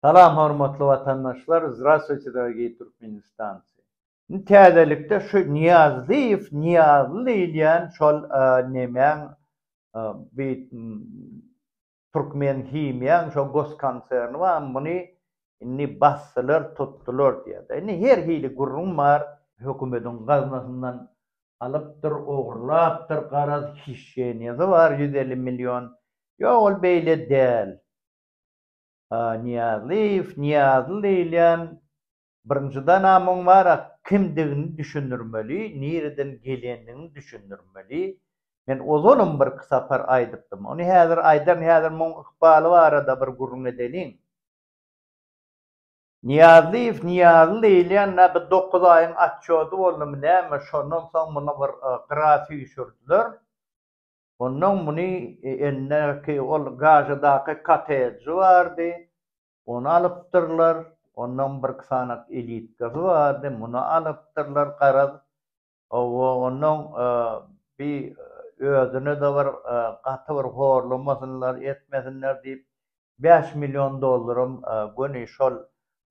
Salam hormatly watandaşlar Zdrastwyçe dorogiý Türkmenistanci. Indi täzelikde şu Niýazlyýew Niýazly diýilýän şol nemäň bi Türkmen himiýaň şo goskonserni bar muny indi basdylar tutdylar diýýärler. Indi her hili gürrüň bar. Hökümediň gaznasyndan alypdyr ogurlapdyr garaz hişeniýasy bar ýüz elli million ýok ol beýle däl. Nyýazlyýew, Nyýazly diýilýän birinjiden amuň bara kimdigini düşündirmeli, nireden gelendigini düşündirmeli. Men ozalam birki sapar aýdypdym. Ony häzir aýdan, häzir muň ykbaly barada bir gürrüň edeliň. Nyýazlyýew, Nyýazly diýilýän nä bir dokuz aýyň atçjody boldumy näme, şondan soň muny bir gyra süýşürdiler. Onnoň muny enäki ol Gazadaky kottejji bardy, ony alypdyrlar. Onnoň birki sanat elitkasy bardy, muny alypdyrlar. Garaz, owo, onnoň bi özüne-de bir gaty bir horlamasynlar, etmesinler diýip, bäş million dollaram göni şol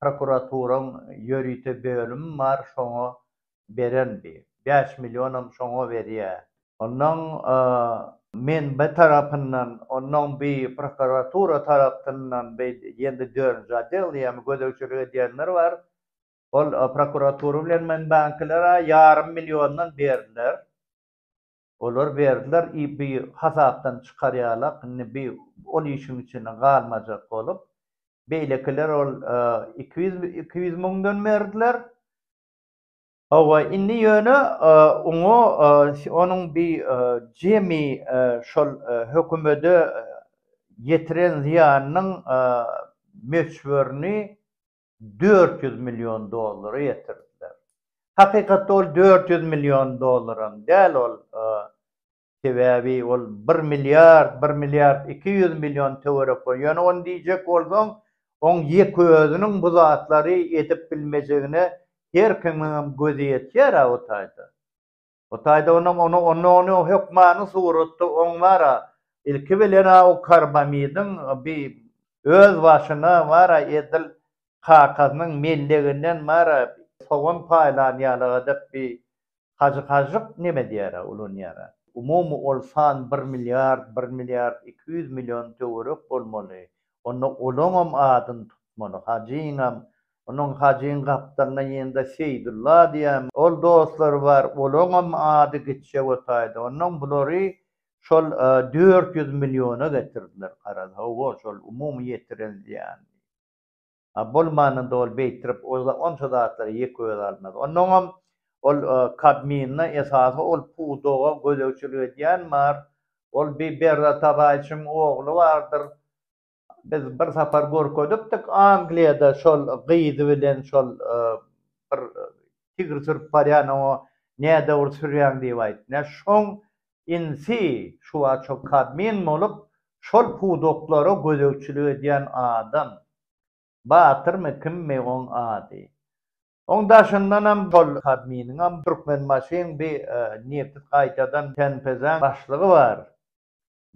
prokuraturaň ýörite bölümi bar, şoňa beren bi bäş millionam şoňa berýä onnoň men bi tarapyndan onnoň bi prokuratura taraptyndan bi ýendi dördünji odel ýa gözegçilik edýänler bar ol prokuratura bilen men bankilere ýarym milliondan berdiler olar berdiler i bi hasapdan çykarýalak indi bi ol işiň içinde galmajak bolup beýlekiler ol iki ýüz iki ýüz müňden berdiler Hawa, indi ýöne oňa onuň bi jemi şol hökümede ýetiren zyýanynyň möçberini dört ýüz million dollara ýetirdiler. Hakykatda ol dört ýüz million dollaram däl, ol Sebäbi ol bir milliard, bir milliard iki ýüz million töwerek bor. Ýöne ony diýjek bolsaň, oň ýek özüniň bu zatlary edip bilmejegine her kimiňem gözi ýetýär-ä o taýda. O taýda onam ony onda ony hökmany suratda oň bar-a, ilki bilen-ä o karbamidiň bi öz başyna bar-a edil kakasynyň melleginden bar-a sogan paýlan ýaly edip bi Hajy Hažžyk neme diýärä ulanýara. Umumy ol san bir milliard, bir milliard iki ýüz million töwerek bolmaly. Onda olaňam adyny tutmaly, Hajyňam. Onuň Hajyň gapdalyna ýene-de Seýdulla diýen ol dostlary bar, olaňam ady gitse wotaydy. Onnoň bulary şol dört ýüz milliona getirdiler garaz. Hawa, şol umumy ýetiren zyýany. A bolmanynda ol beýtirip oza onça zatlary ýek öz almaz. Onnoňam ol kabmynda esasy ol pudaga gözegçilik edýän bar. Ol bi Berra Tagaýçyň ogly bardyr. Biz bir sapar görkezipdik Angliýada şol gyzy bilen şol bir tigr sürüp barýan oňa nädogry sürýäň diýip aýtdy. Nä şoň Insi, şuwagt şol Kadmin bolup, şol pudaklara gözegçilik edýän adam. Batyrmy, kimmi oň ady. Oň daşyndanam şol Kadminiňem Türkmenbaşyň bi nepis gaýtadan TNPZ-iň başlygy bar.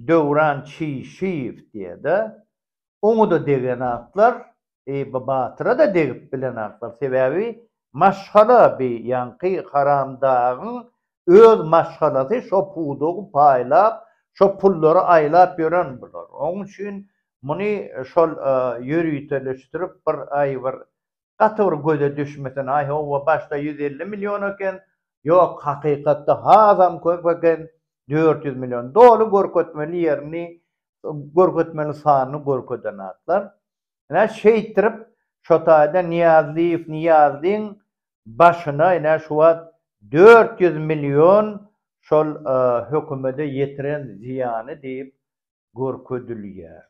Döwran Çişiýew diýýär-de. oňa-da degen atlar, Eýýuba batyra-da degip bilen atlar. Sebäbi maşgala bi ýaňky haramdagyň öz maşgalasy şo pudagy paýlap, şo pullary aýlap ýören bular. Oň üçin muny şol ýöriteleşdirip bir aý bir gaty bir göze düşmesin, aý howwa başda ýüz elli million eken, ýok hakykatda hasam köp eken, dört ýüz million. Doly görkezmeli ýerini Görkezmeli sanyny görkezen zatlar. Ine, şeýtdirip, şo taýda Nyýazlyýew Nyýazlyň başyna ine şu wagt dört ýüz million şol hökümede ýetiren zyýany diýip görkezilýär.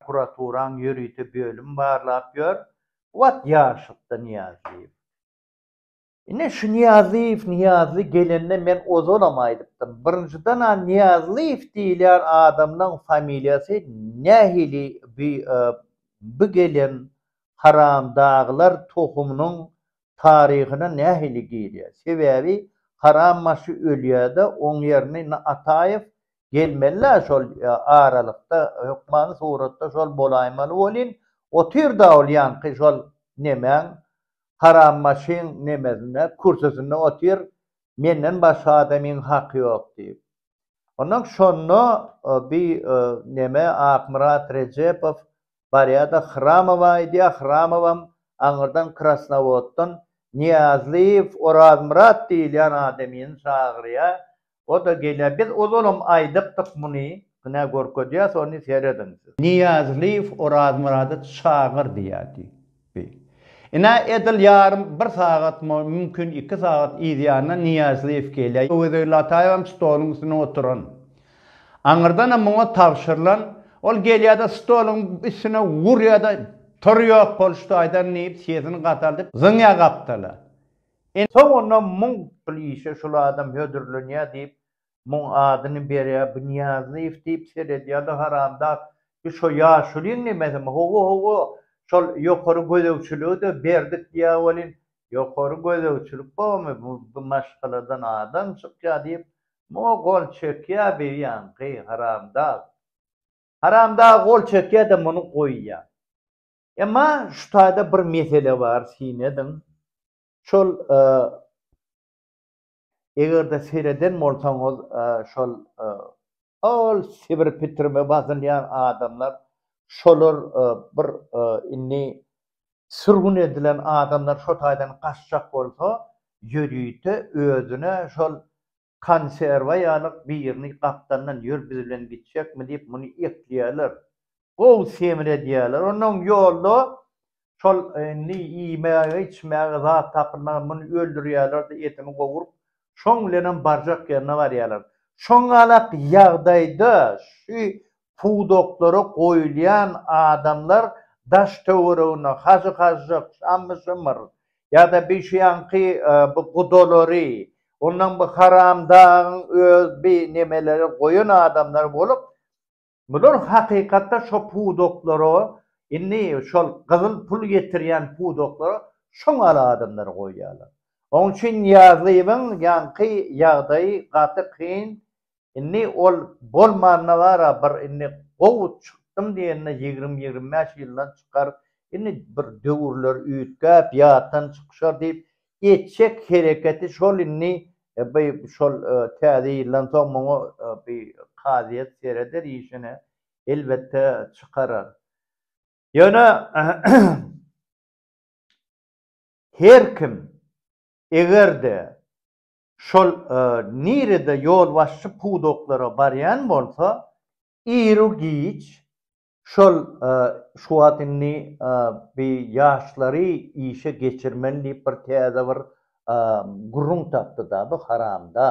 Prokuraturaň ýörite bölümi barlap ýör. Wagt ýaşlykda Nyýazlyýew. Ine şu Niýazlyýew Niýazly gelende men ozalam aýdypdym. Birinjiden-ä Niýazlyýew diýilýän adamynyň familiýasy nähili bi bi gelen haramdagylar tohumynyň taryhyna nähili girýär. Sebäbi haram başy ölýär-de oň ýerini na Ataýew gelmeli-ä şol aralykda hökmany suratda şol bolaýmaly welin otyr-da ol ýaňky şol nemäň Haram maşyn nemesinde, kürsüsinde otyr, menden başga adamyň haky ýok diýip. Ondan şonda bi neme Akmyrat Rejepow barýada Hramowa aýdýa, Hramowam aňyrdan Krasnowoddan Niýazlyýew Orazmyrat diýilýän adamyny çagyrýa, O-da gelýär. Biz ozalam aýdypdyk muny. Ynha, görkezýäs ony, serediň siz. Nyýazlyýew Orazmyrady çagyr diýýärdi. Bi. Ynha, edil ýarym bir sagat, mümkin, iki sagat yzýanyna Nyýazlyýew gelýär. Bu gezek Lataýewem stoluň üstünde oturan. Aňyrdanam muňa tabşyrylan. Ol gelýär-de, stoluň üstüne urýar-da, Tur ýok boluş taýdan diýip, sesini gataldyp, zyňýar gapdala. Ine, soňunda muň şul işe şul adam hödürlenýär diýip, muň adyny berýär, bu Nyýazlyýew diýip seredýär-de, haramzat, bi şo ýaşulyň nemesimi? Hawa-hawa, şol ýokary gözegçiligi-de berdik diýýär welin, ýokary gözegçilik bormy, bu bi maşgaladan adam çykýar diýip, muňa gol çekýär bi ýaňky haramzat. Haramzat gol çekýär-de, muny goýýar. Emma şu taýda bir mesele bar syn ediň. Şol eger-de sereden bolsaňyz şol ol Sibir pitrime basylýan adamlar şolar bir indi sürgün edilen adamlar şo taýdan gaçjak bolsa ýörite özüne şol konserwa ýalyk birini gapdandan ýör biz bilen gitjekmi diýip muny ekleýärler. Gowy semredýärler. Onnoň ýolda şol indi iýmäge içmäge zat tapylmaz muny öldürýärler-de etini gowuryp şoň bilenem barjak ýerine barýarlar. Şoňalak ýagdaýda şu pudaklara goýulýan adamlar daş-töweregine hajy-hažžyk, şammy-şymyr ýa-da bişiýanki bu gudalary, ondan bu haramdagyň öz bi nemeleri goýan adamlar bolup, bular hakykatda şo pudaklara, indi şol gyzyl pul getirýän pudaklara şoňal adamlary goýýarlar. Oň üçin Nyýazowyň ýaňky ýagdaýy gaty kyn, Indi ol bolmanda bara bir indi gowy çykdym diýende ýigrimi ýigrimi bäş ýyldan çykar, indi bir döwürler üýtgäp ýatdan çykyşar diýip etjek hereketi şol indi by şol täze ýyldan soň muňa by kazyýet sereder işine elbetde çykarar. Ýöne her kim egerde Şol nirede ýolbaşçy pudaklara barýan bolsa, iru-giç şol şu wagt indi bi ýaşlary işe geçirmeli diýip bir täze bir gürrüň tapdy-da bu haramda.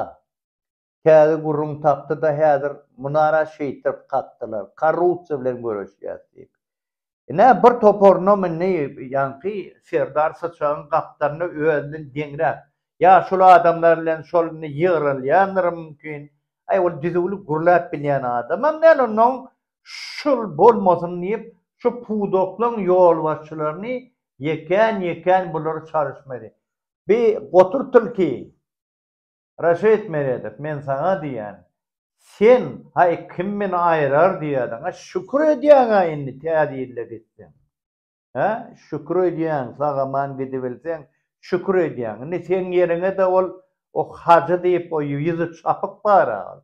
Täze gürrüň tapdy-da häzir munara şeýtdirip kakdylar, korrupsiýa bilen göreşýäs diýip. Ine, bir toparyna mindi, ýaňky serdar syçagyň gapdalyna özünden deňräk, ýa şol adamlar bilen şol indi ýygrylýandyr mümkin. Aý, ol düzüwli gürläp bilýän adamam däl, onnoň şul bolmasyn diýip, şu pudaklaryň ýolbaşçylaryny ýekän-ýekän bulary çalyşmaly. Bi gotur tilki. Reşit Meredow, men saňa diýýän, sen, haý, kim meni aýrar diýýädiň-ä, şükür edýäň-ä indi Täze ýylda gitseň. Hä, şükür edýäň, sag-aman gidibilseň, şükür edýäň. Indi seň ýeriňe-de ol, o Hajy diýip, o ýüzi çapyk bar-a ol.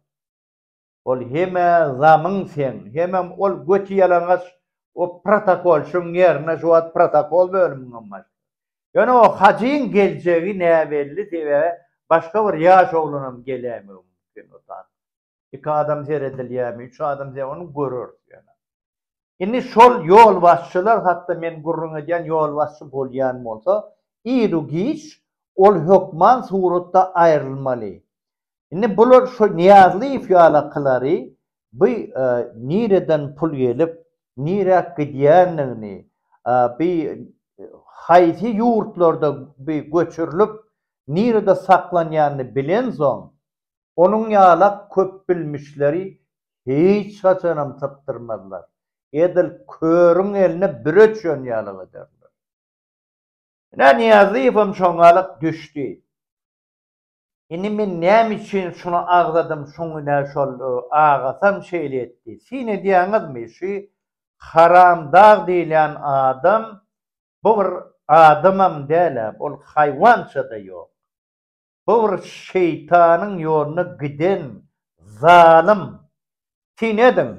Ol heme zamyn seň, hemem ol göti ýalaňaç o protokolçyň ýerine şu wagt protokol bölüminiň başlygy. Ýöne o hajyň geljegi näbelli sebäbi başga bir ýaş oglanam geläýmegi mümkin o zat. Iki adam seredilýärmi, üç adam seredilýärmi, görüris ýöne. Indi şol ýolbaşçylar hakda men gürrüň edýän ýolbaşçy bolýan bolsa, ir-u-giç ol hökman suratda aýrylmaly. Indi bular şo Nyýazlyýew ýalakylary bu nireden pul gelip, niräk gidýändigini, bu haýsy ýurtlarda bu göçürilip, nirede saklanýanyny bilensoň, Onuň ýalak köpbilmişleri hiç haçanam sypdyrmazlar, edil körüň eline büre düşen ýalak ederler. Ine, Nyýazoýewem şoňalak düşdi. Indi men näme üçin şuny agzadym, şoň ine şol agasam şeýle etdi. Syn edýäňizmi, şu Haramdag diýilýän adam, bu bir adamam däl-ä, ol haýwança-da ýok. Bu bir şeýtanyň ýoluna giden zalym. Syn ediň.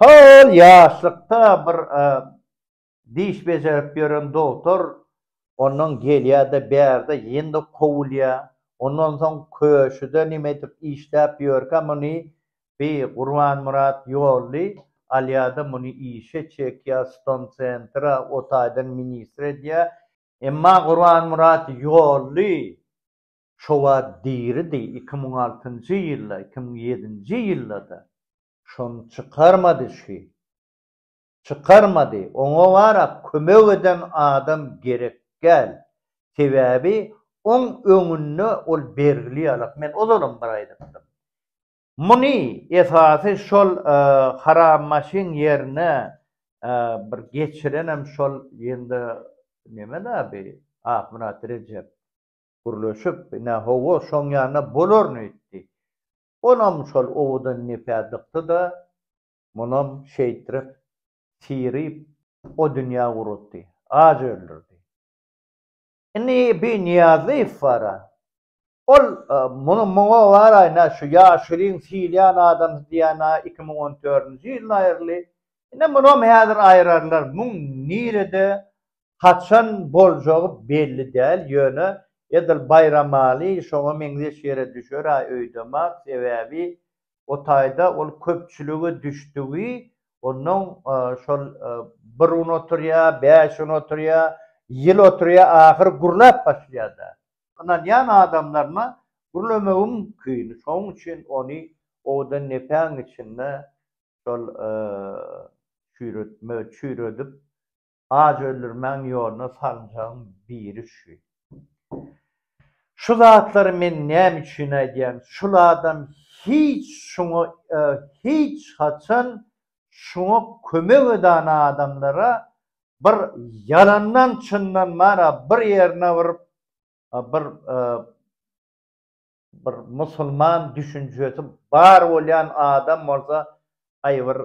Hol ýaşlykda bir diş bejerip ýören dogtor ondan gelýär-de bärde ýene-de kowulýar. Ondan soň köşüde nimedik işläp ýörkä muny bi Gurbanmyrat ýolly alýar-da muny işe çekýär, stonsentra o taýdan ministr edýär. Emma Gurbanmyrat Ýolly şowa diridi, iki müň altynjy ýylda, iki müň ýedinji ýylda-da şony çykarmady şi. Çykarmady. Oňa wara kömek eden adam gerek däl. Sebäbi oň öňünde ol bergili ýalak. Men ozalam bir aýdypdym. Muny esasy şol hara maşyn ýerine bir geçirenem şol ýene neme-dä bi Akmyrat Rejep gürleşip ine hawa şoň ýanyna bolaryn öýtdi. Onam şol owadan nepä dykdy-da, munam şeýtrip syryp o dünýä guratdy. Aç öldürdi. Indi bi Niýazlyýew bara. Ol muny muňa baraýna şu ýaşulyň syýylýan adamsy diýýän-ä iki müň on dördünji ýylda aýryldy. Ine munam häzir aýrarlar. Muň nirede, haçan boljagy belli däl. Ýöne edil Baýramaly şoňa meňzeş ýere düşer-ä öýdemok. Sebäbi o taýda ol köpçülige düşdügi, onnoň şol bir gün oturýar, bäş gün oturýar, ýyl oturýar, ahyry gürläp başlaýar-da. Ynanýan adamlaryna gürlemegiň küýüni, şonuň üçin ony owadan lepäň içinde şol çüýretme, çüýredip, Ajy öldürmäň ýoluna sarymsagyň biri üçin. Şu zatlary men näme üçin aýdýan, şul adam hiç şuňa hiç haçan şuňa kömek edan adamlara bir ýalandan çyndan bar a bir ýerine bir bir bir musulman düşünjesi bar bolýan adam bolsa gaý bir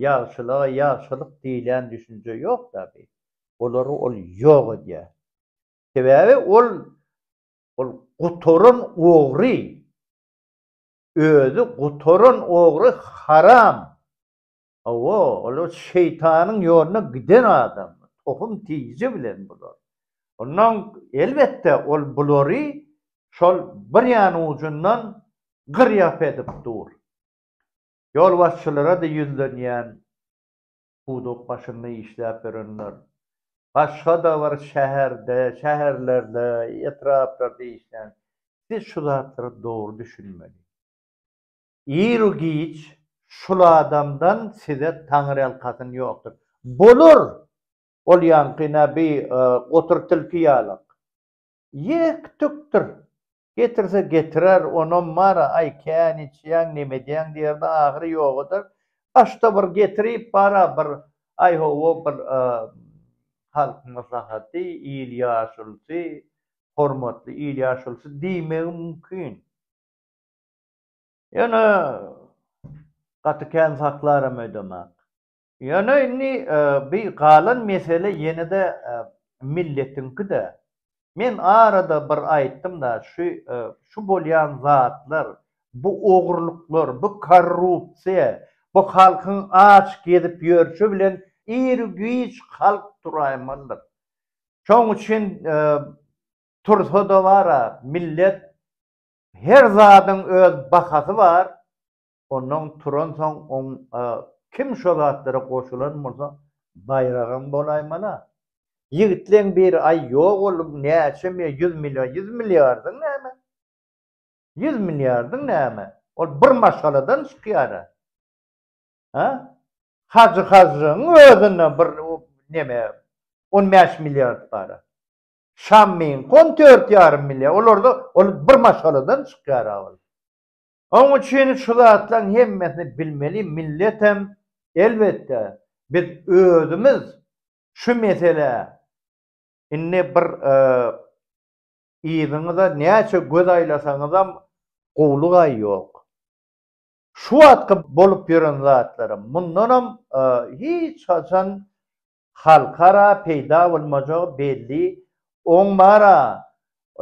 ýagşylyga ýagşylyk diýilýän düşünje ýokda bi olary ol ýok edýär sebäbi ol ol gutaran ogry özi gutaran ogry haram Hawa, olar şeýtanyň ýoluna giden adam, tohum tiji bilen bular. Ondan, elbetde, ol bulary şol bir ýan ujundan gyr-ýap edip dur. Ýolbaşçylara-da ýüzlenýän, puduk başynda işläp ýörenler, başga-da bir şäherde, şäherlerde, etraplarda işlän, siz şu zatlara dogry düşünmeli. iru giç şul adamdan size taňyrýalkasyn ýokdur. Bolar! Ol ýaňky nä bi gotur tilki ýalak. Ýek tükdir. Getirse getirer, onam bar-a, aý kän içýäň, neme edýäň diýerde ahyry ýogadyr. Başda bir getirip bar-a bir aý-ho-wo bir halk maslahaty, il ýaşulysy, hormatly il ýaşulysy diýmegi mümkin. Ýöne gaty kän saklaram öýdemok. Ýöne indi bi galan mesele ýene-de milletiňki-de. Men arada bir aýtdym-da, şu şu bolýan zatlar, bu ogrulyklar, bu korrupsiýa, bu halkyň aç gezip ýörşi bilen ir-giç halk turaýmalydyr. Şoň üçin tursa-da bar-a, millet Her zadyň öz bahasy bar, ondan turansoň oň a kim şo zatlara goşulan bolsa baýragam bolaýmala. Ýigitleň biri aý ýok ol näçe mi ýüz million ýüz milliardyň näme? Ýüz milliardyň näme? Ol bir maşgaladan çykýara. Ha? Hajy Hajyň özüne bir neme on bäş milliard bara. Şam meňki on dört ýarym milýa, olarda ol bir maşgaladan çykýar-a ol. Oň üçin şu zatlaryň hemmesini bilmeli, milletem, elbetde, biz özümiz şu meselä indi bir yzyňyza näçe göz aýlasaňyzam gowlugaý ýok. Şu wagtky bolup ýören zatlaram, mundanam hiç haçan Halkara peýda bolmajagy belli, oň bar-a,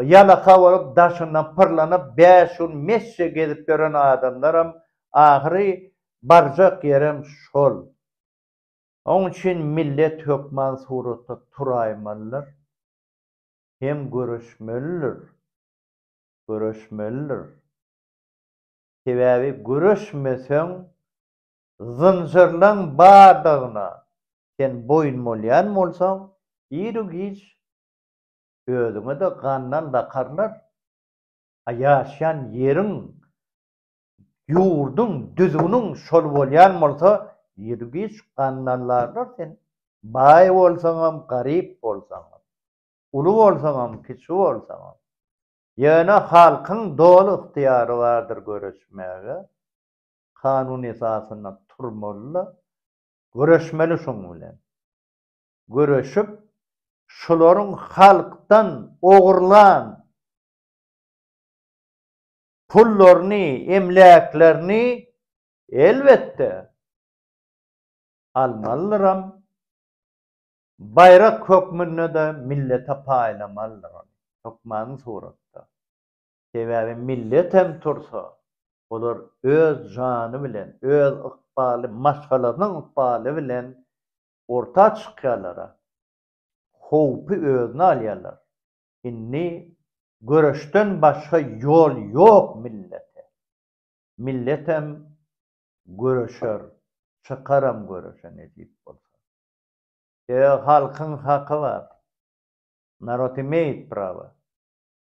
ýalaka bolup daşyndan pyrlanyp bäş gün mesje gezip ýören adamlaram ahyry barjak ýerem şol. Oň üçin millet hökman suratda turaýmalydyr hem göreşmelidir, göreşmelidir. Sebäbi göreşmeseň Zynjyrlaň bardygyna sen boýun bolýan bolsaň, iru-giç özüňe-de gandan bakarlar. A ýaşýan ýeriň, ýurduň, düzgüniň şol bolýan bolsa, iru-giç gandanlarlar seni. Baý bolsaňam, garyp bolsaňam, uly bolsaňam, kiçi bolsaňam. Ýöne halkyň doly ygtyýary bardyr göreşmäge. kanun esasynda turmaly-da, göreşmeli şoň bilen. Göreşip, şularyň halkdan ogurlan pullaryny, emläklerini, elbetde, almalydyram, baýrak hökmünde-de millete paýlamalydyr ony, hökmany suratda. Sebäbi millet hem tursa, olar öz jany bilen, öz ykbaly, maşgalasynyň ykbaly bilen orta çykýarlar-a, howpy özüne alýarlar. Indi göreşden başga ýol ýok millete. Millet hem göreşer, çykaram göreşe nesip bolsa. Sebäbi halkyň haky bar. Narod imeýit prawa.